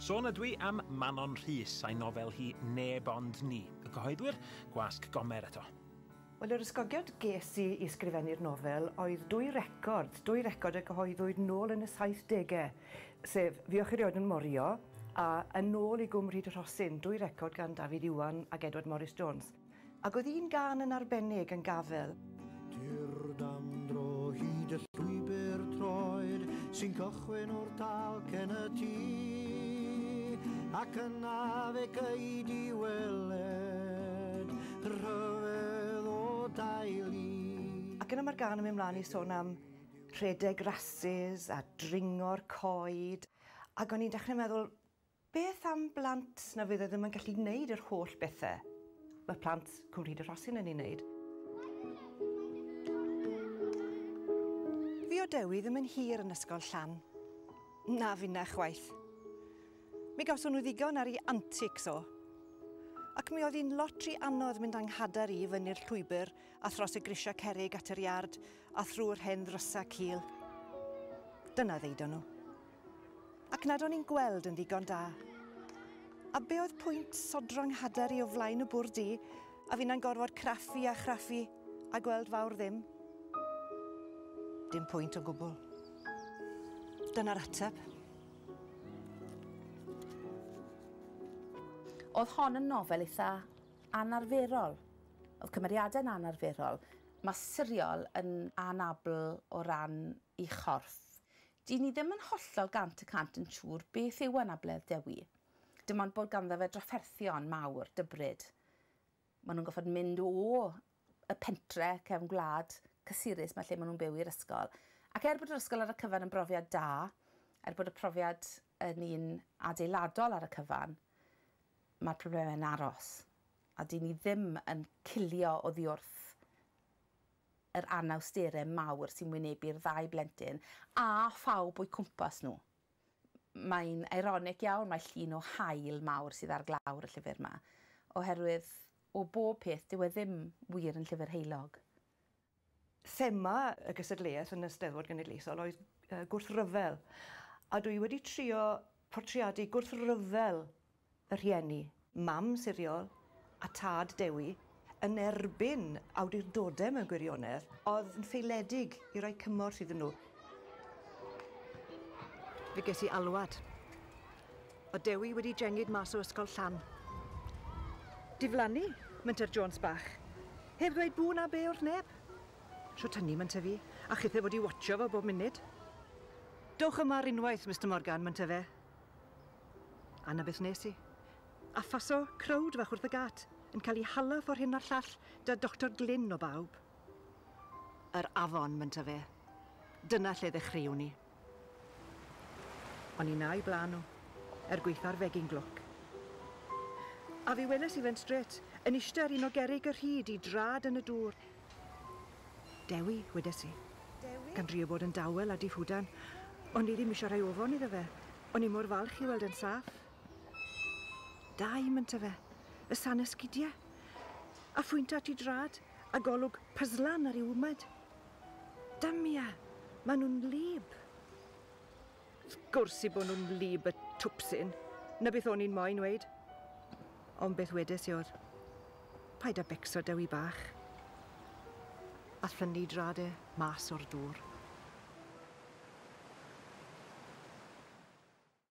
Sôn ydw i am Manon Rhys a'i nofel hi 'Neb Ond Ni', y cyhoeddwyr, Gwasg Gomer eto. Wel, yr ysgogiad ges i i sgrifennu'r nofel oedd dwy record, dwy record y cyhoeddwyd nôl yn y saithdegau, sef 'Fuwch i rioed yn morio' a 'Yn ôl i Gwm Rhyd y Rhosyn', dwy record gan Dafydd Iwan ac Edward Morris Jones. Ac oedd un gân yn arbennig yn Gafel. Dur dan dro hyd y llwybr troed sy'n cychwyn o'r talc yn y tŷ ac yna fe gei weled rhyfedd o daelu. Ac yna mae'r gân yn mynd mlaen i sôn am rhedeg rasys a dringo'r coed ac o'n i'n dechrau meddwl Beth am blant na fydd e ddim yn gallu gwneud yr holl bethe ma' plant Cwm Rhyd y Rhosyn yn 'u neud? Fi o Dewi ddim yn hir yn ysgol Llan. Na finna chwaith. Mi gawson nhw ddigon ar 'u antics o. Ac mi oedd hi'n lot ry anodd mynd a'n nghadar i fyny'r llwybr a thros y grisia cerrig at yr iard a thrw'r hen ddrysa cul. Dyna ddeudon nhw. Ac nad o'n i'n gweld yn ddigon da. A be oedd pwynt sodro 'nghadair i o flaen y bwrdd du, a finna'n gorfod craffu a chraffu, a gweld fawr ddim? Dim pwynt o gwbl. Dyna'r ateb. Oedd hon yn nofel eitha anarferol. Oedd cymeriadau'n anarferol. Mae Siriol yn anabl o ran ei chorff. Dŷn ni ddim yn hollol gant y cant yn siŵr beth yw anabledd Dewi. Dim ond bod ganddo fe drafferthion mawr, dybryd. Maen nhw'n gorfod mynd o y pentre cefn gwlad cysurus 'ma lle maen nhw'n byw i'r ysgol. Ac er bod yr ysgol ar y cyfan yn brofiad da, er bod y profiad yn un adeiladol ar y cyfan, mae'r problemau'n aros. A dŷn ni ddim yn cilio oddi wrth yr anawsterau mawr sy'n wynebu'r ddau blentyn a phawb o'u cwmpas nhw. Mae'n eironig iawn mai llun o haul mawr sydd ar glawr y llyfr yma, oherwydd o bob peth dyw e ddim wir yn llyfr heulog. Thema y gystadleuaeth yn y Steddfod Genedlaethol oedd gwrthryfel, a dwi wedi trio portreadu gwrthryfel y rhieni. Mam siriol a tad Dewi yn erbyn awdurdodau mewn gwirionedd oedd yn feiledig i roi cymorth iddyn nhw. Fe ges i alwad. Oedd Dewi wedi jengid mas o ysgol Llan. Diflannu, menter Jones bach. Heb ddweud bŵ na bê wrth neb. Shwt hynny, menter fi, a chithau fod i watsio fo bob munud. Dowch yma ar unwaith, Mister Morgan, menter fe. A 'na beth nes i. A phaso crowd fach wrth y gât, yn cael ei hala ffor hyn a'r llall, 'da Doctor Glyn o bawb. Yr afon, mynta fe. Dyna lle ddechreuwn i. O'n i 'na i blaen nhw, er gwaetha'r fegin glwc. A fe weles i fe'n strêt, yn iste ar un o gerrig y rhyd i drad yn y dŵr, Dewi, wedes i. Dewi? Gan drio bod yn dawel a diffwdan. O'n i ddim eisiau rhoi ofon iddo fe. O'n i mor falch i weld e'n saff. Dau, mynta fe. Y san esgidiau. A phwynta at i drad, a golwg pyzlan ar ei wmad. Damia! Maen nhw'n wlyb! Wrth gwrs i bo nhw'n wlyb y twpsyn, 'na beth o'n i'n moyn weud. Ond beth wedes i oedd, 'Paid â becso Dewi bach. A thynnu drad e mas o'r dwr.